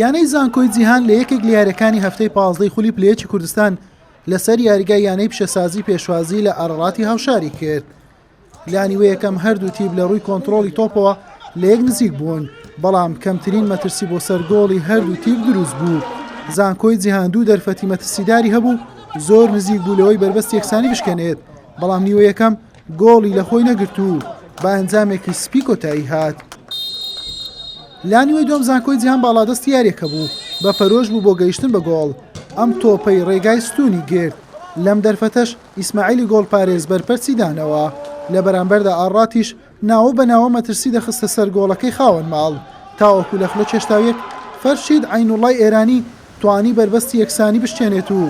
یانەی زانکۆی جیهان لە یەکێک لە یاریەکانی هەفتەی پازدەی خولی پلەیەکی کوردستان لەسەر یاریگای یانەی پیشەسازی پێشوازی لە ئارەڵاتی هاوشاری کرد لانیوە یەکەم هەردوو تیب لە ڕووی کۆنتترۆلی تۆپەوە لە یەک نزیک بوون بەڵام کەمترین مەترسی بۆ سەرگۆڵی هەردوو تیب دروست بوو زانکۆی جیهان دوو دەرفەتی مەترسیداری هەبوو زۆر نزیک بوو لەوەی بەربەست یەکسانی بشکێنێت بەڵام نیوە یەکەم گۆڵی لە خۆی نەگرت و بە ئەنجامێکی سپی کۆتایی هات. لا نیوەی دووەم زانکۆی جیهان باڵادەستی یاریەکە بوو بە پەرۆش بوو بۆ گەیشتن بە گۆڵ ئەم تۆپەی ڕێگای ستونی گرت لەم دەرفەتەش ئیسماعیلی گۆڵپارێز بەرپەرچی دانەوە لە بەرامبەردا ئاڕاتیش ناوە بە ناوە مەترسی دەخستە سەر گۆڵەکەی خاوەن ماڵ تاوەکو لە خولە چێشتاویەک فەرشید عەینوڵای ئێرانی توانی بەربەستی یەکسانی بشکێنێت و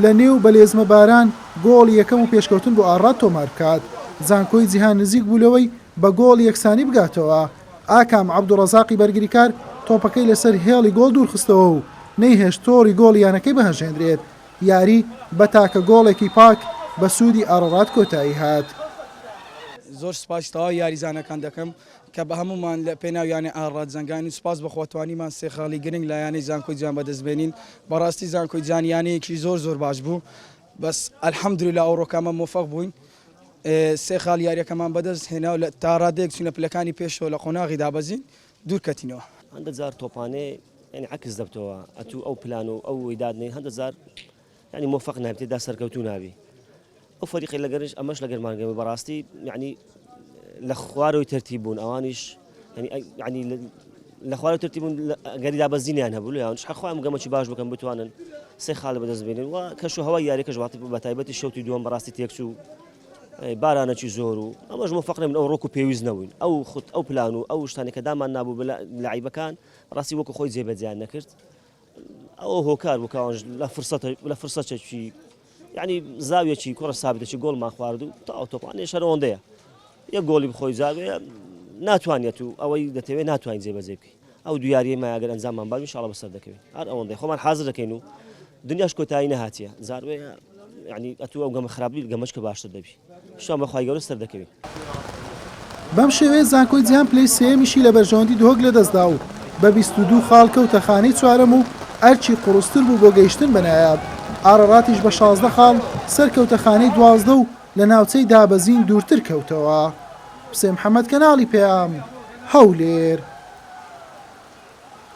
لە نێو بەلێزمەباران گۆڵی یەکەم و پێشکەوتن بۆ ئاڕاد تۆمار بکات، زانکۆی جیهان نزیک بوو لەوەی بە گۆڵ یەکسانی بگاتەوە، ئاکام عەبدوڕەزاقی بەرگریکار تۆپەکەی لەسەر هێڵی گۆڵ دوورخستەوە و نەیهێشت تۆڕی گۆڵی یانەکەی بهەژێنرێت، یاری بە تاکە گۆڵێکی پاک بە سوودی ئاڕڕاد کۆتایی هات. زۆر سوپاسی تەواوی یاریزانەکان دەکەم. کە بە هەموومان لە پێناو یانەی ئاڕا جەنگاین و سوپاس بەخوا توانیمان سێ خاڵی گرنگ لە یانەی زانکۆی جوان بەدەست بێنین، بەڕاستی زانکۆی جوان یانەیەکی زۆر زۆر باش بوو بەس الحمدللە ئەوڕۆکەمان مۆفەق بووین سێ خاڵی یاریەکەمان بەدەست هێنا و تا ڕادەیەک چوینە پلەکانی پێشەوە لە قۆناغی دابەزین دوور کەتینەوە. هەندە جار تۆپانێ یانی عەکس دەبتەوە ئەتوو ئەو پلان و ئەو وەی دادنێی هەندە جار یانی مۆفەق نابی تێدا سەرکەوتوو نابی ئەو فەریقی لەگەرش ئەمەش لەگەر مانگەوە بەڕاستی یعنی لە خوارەوەی تەرتی بوون ئەوانیش ینی لە خوارە ترتی بوون گەری دابەزینیان هەبوو یان حخوایم گەمەی باش بکەم بتوانن سێ خاڵ بەدەست بێنن و کەش و هەوا یاریکەش وڵاتی بە تایبەتی شوتی دووەم بەڕاستی تێکچوو بارانەکی زۆر و ئەمەش مفقنە من ئەو ڕۆک و پێویست نەبووین ئەو خود ئەو پلان و ئەو شتانەکە دامان نبوو لە عیبەکان ڕاستی وەکو خۆی جێبەجیان نەکرد ئەوە هۆکار بوو کاوانش لە فرسەتە لە فرسەچەکی یعنی زاویەکی کوڕە سابتێکی گۆڵمان خوارد و تا ئەوتۆپانێ شەرەوەندەیە یە گۆڵی بخۆی زاوێ ناتوانێت و ئەوەی دەتەوێت ناتوانین جێبەجێ بکەین ئەو دویاریە مایگەر ئەنجاممان باوی شڵە بەسەر دەکەوین هەر ئەوەندەی خۆمان حاضر دەکەین و دنیاش کۆتایی نەهاتیە زاروێ ینی ئەتو ئەو گەمە خراپبیل گەمەشکە باشتر دەبی شان بەخوای گەورە سەردەکەوی. بەم شێوەیە زانکۆی جیهان پلەی سێیەمیشی لە بەرژەوەندی دهۆک لەدەستدا و بە بیست و دوو خاڵ کەوتە خانەی چوارەم و ئەرکی قوڕستر بوو بۆ گەیشتن بە نایاب ئاڕەڕاتیش بە شازدە خاڵ سەرکەوتە خانەی دوازدە و لە ناوچەی دابەزین دوورتر کەوتەوە. حوسێن محەمەد کەناڵی پەیام. هەولێر.